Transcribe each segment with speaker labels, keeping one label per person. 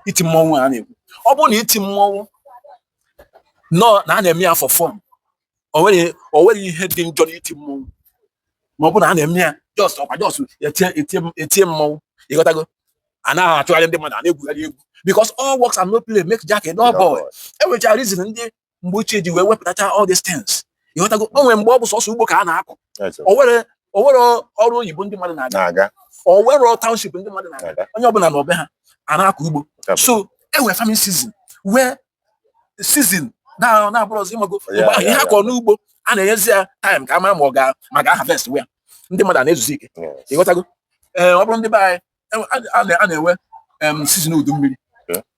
Speaker 1: iti mmọnwụ a na-ekwu ọ bụrụ na iti mmọnwụ nọ na a na-eme ya for fun o nwerọ ihe dị njọ n'iti mmọnwụ ma ọ bụrụ na a na-eme ya just ọkwa just etie mmọnwụ ịghọtago a na-achụgharị ndị mmadụ a na-egwugharị egwu because all works and no play make Jack a dull boy enwechara reason ndị mgbe ochie ji wee wepụtacha all these things ịghọtago o nwere mgbe ọ bụ sọsọ ugbo ka a na-akọ o nwerọ ọrụ oyibo ndị mmadụ na-aga o nwerọ township ndị mmadụ na-aga onye ọbụla nọ be ha a na-akọ ugbo so e nwere farming season nwee season na-abụrụzi ịmago mgbe ahụ ihe a kọrọ n'ugbo a na-enyezi ya time ka a mara ma ọ ga ma ga harvest where ndị mmadụ na-ezuzi ike ịghọtago ee eh, ọ bụrụ ndị be anyị a na-enwe um, season udu mmiri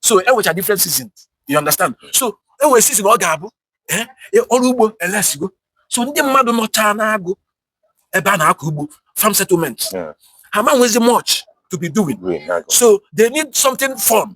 Speaker 1: so enwecha different season you understand so enwere season ọ ga-abụ eh, eh, ọrụ ugbo elesigo so ndị mmadụ nọcha n'agụ ebe a na-akọ ugbo farm settlement ha ma nwezi much to be doing so they need something fun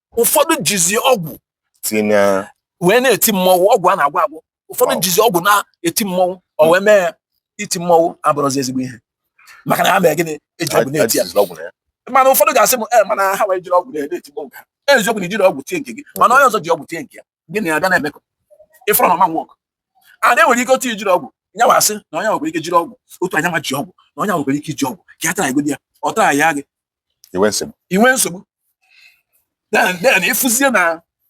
Speaker 1: ụfọdụ jizi ọgwụ tinye ya wee na-eti mmọnwụ ọgwụ a na-agwọ agwọ ụfọdụ Wow. jizi ọgwụ na-eti mmọnwụ o wee mee iti mmọnwụ abụrọzi ezigbo ihe maka na ha mere gịnị eji ọgwụ na-eti ya ajụjụ ọgwụ na ya mana ụfọdụ ga-asị m "Eh, mana hanwa ejirọ ọgwụ na-eti mmọnwụ nke ha." eziokwu na ijirọ ọgwụ tie nke gị mana onye ọzọ ji ọgwụ tie nke ya gị na ya abịa na-emekọ ịfụrọ na ọ ma work and e nwere ike otu ijirọ ọgwụ nya nwa sị na onye nwekwara ike jiri ọgwụ otu anya ma ji ọgwụ na onye nwekwara ike iji ọgwụ ka ya try godi ya ọ try ya gị inwe nsogbu then ịfụzie na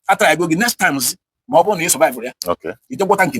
Speaker 1: a try go gị next time ma ọ bụrụ na ị survive ya i je gwọta nke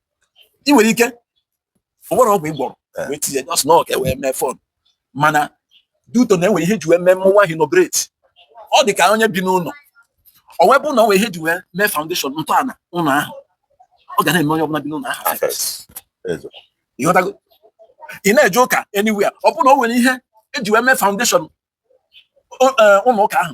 Speaker 1: ị nwere ike o nwerọ ọgwụ ị gwọrọ eh. wee tinye just na ọ ka e wee mee fun mana due to na enwere ihe e ji wee mee mmọnwụ ahụ inaugurate ọ dị ka onye bi n'ụlọ o wee bụ na o nwere ihe e ji wee mee foundation ntọala ụlọ ahụ ọ ga na-eme onye ọbụla bi n'ụlọ ahụ ịghọtago ị na-eje ụka anywhere ọ bụ na o nwere ihe eji wee mee foundation eh, ụlọ ụka ahụ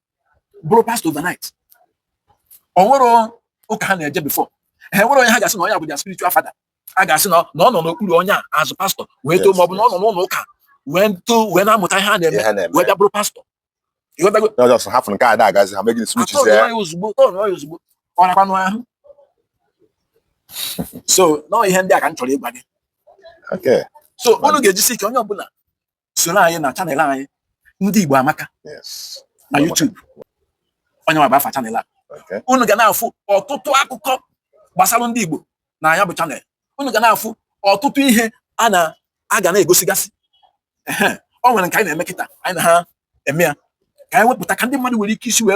Speaker 1: bụrụ pastor overnight o nwerọ ụka ha na-eje before ha nwerọ onye ha ga-asị na onye a bụ their spiritual father a ga-asị na ọ nọ n'okpuru onye a azụ pastor wee too ma ọ bụ na ọ nọ n'ụlọ ụka wee too wee na-amụta ihe a na-eme wee bịa bụrụ
Speaker 2: pastor ha fụ nke a na-agazi ha megide switch
Speaker 1: ozugbo ozugbo ọ nakwanụ ahụ so na ọ ihe ndị a ka m chọrọ ịgwa gị so unu ga-ejisi ike onye ọbụla soro anyị na channel anyị ndị Igbo Amaka na YouTube ọ nya nwa bụ afa channel a unu ga na-afụ ọtụtụ akụkọ gbasara ndị Igbo na ya bụ channel unu ga na-afụ ọtụtụ ihe a na a ga na-egosigasị ọ nwere nke anyị na-eme kịta anyị na ha eme ya ka anyị wepụta ka ndị mmadụ nwere ike isi wee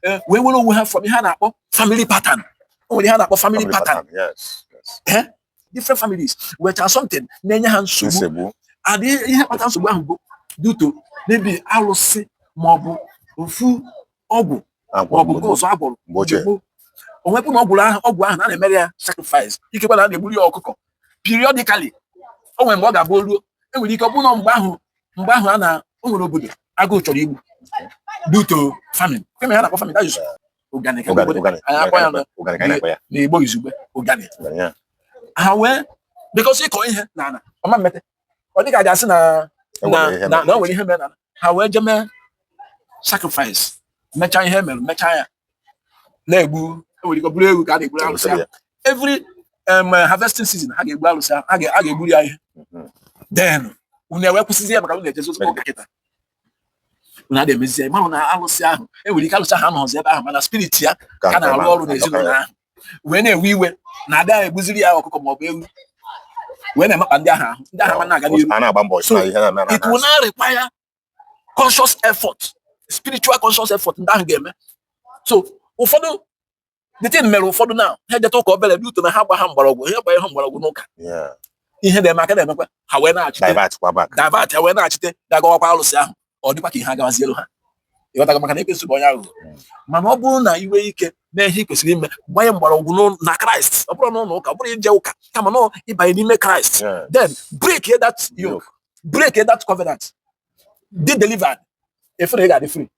Speaker 1: eh, wee were onwe ha from ihe a na-akpọ family pattern o nwere ihe a na-akpọ family pattern different families wetara something na-enye ha nsogbu and ihe kpata nsogbu ahụ bụ due to maybe alụsị maọbụ ofu ọgwụ maọbụ nke ọzọ a gwọrọ gboo gboo onwepụ na ọgwụ ahụ a na-emere ya sacrifice ikekwe na a na-egburu ya ọkụkọ periodically o nwere mgbe ọ ga-abụ ruo enwere ike ọ bụrụ na mgbe ahụ mgbe ahụ a na o nwere obodo agụụ chọrọ igbu due to famine kee ihe ha na-akpọ famine ụganị ka Ụganị, mgbede ụganị, anyị akpọ ya na- ụganị ka anyị na-akpọ ya. n'igbo izugbe ụganị Ụganị ya. ha wee because ị kọọ ihe na ala ọ ma mmete ọ dịka a ga-asị na E na nwere ihe na mere. na o nwere ihe mere na ala. ha wee je mee sacrifice mechaa ihe mere mechaa ya na-egbu enwere ike ọ bụrụ ewu ka a na-egburu arụsị Arụsị ahụ ya. every um, harvesting season ha ga-egbu arụsị ahụ ha ga- ha ga-egburu ya ihe Mhm. then unu ewee kwụsịzi ya maka unu ejezi ụzọ ụka kịta unu ada emezi ya mara na alụsị ahụ e nwere ike alụsị ahụ anọzi ebe ahụ mana spirit ya ka na-arụ ọrụ n'ezinụlọ ahụ wee na-ewe iwe na ada egbuziri ya ọkụkọ ma ọ bụ ewu wee na-emekpa ndị ahụ ahụ ndị ahụ ama na-aga n'ihu it will now require conscious effort spiritual conscious effort ndị ahụ ga-eme so ụfọdụ the thing mere ụfọdụ na ha ejeta ụka obere due to na ha agbaha mgbọrọgwụ ha agbaha mgbọrọgwụ n'ụka ihe na-eme ha ka na-emekwa ha wee na-achite divert ha wee na-achite gagawakwa alụsị ahụ ọ dịkwa ka ihe agawazielu ha ị ghọtago maka na ekwensu bụ onye aghụghọ hmm. mana ọ bụrụ na ị nwee ike mee ihe ị kwesịrị ime gbanye mgbọrọgwụ na kraịst ọ bụrọ na ụlọ ụka ọ bụrọ ije ụka kama na ị banye n'ime kraịst then break that yoke break that covenant be delivered efere ị ga-adị free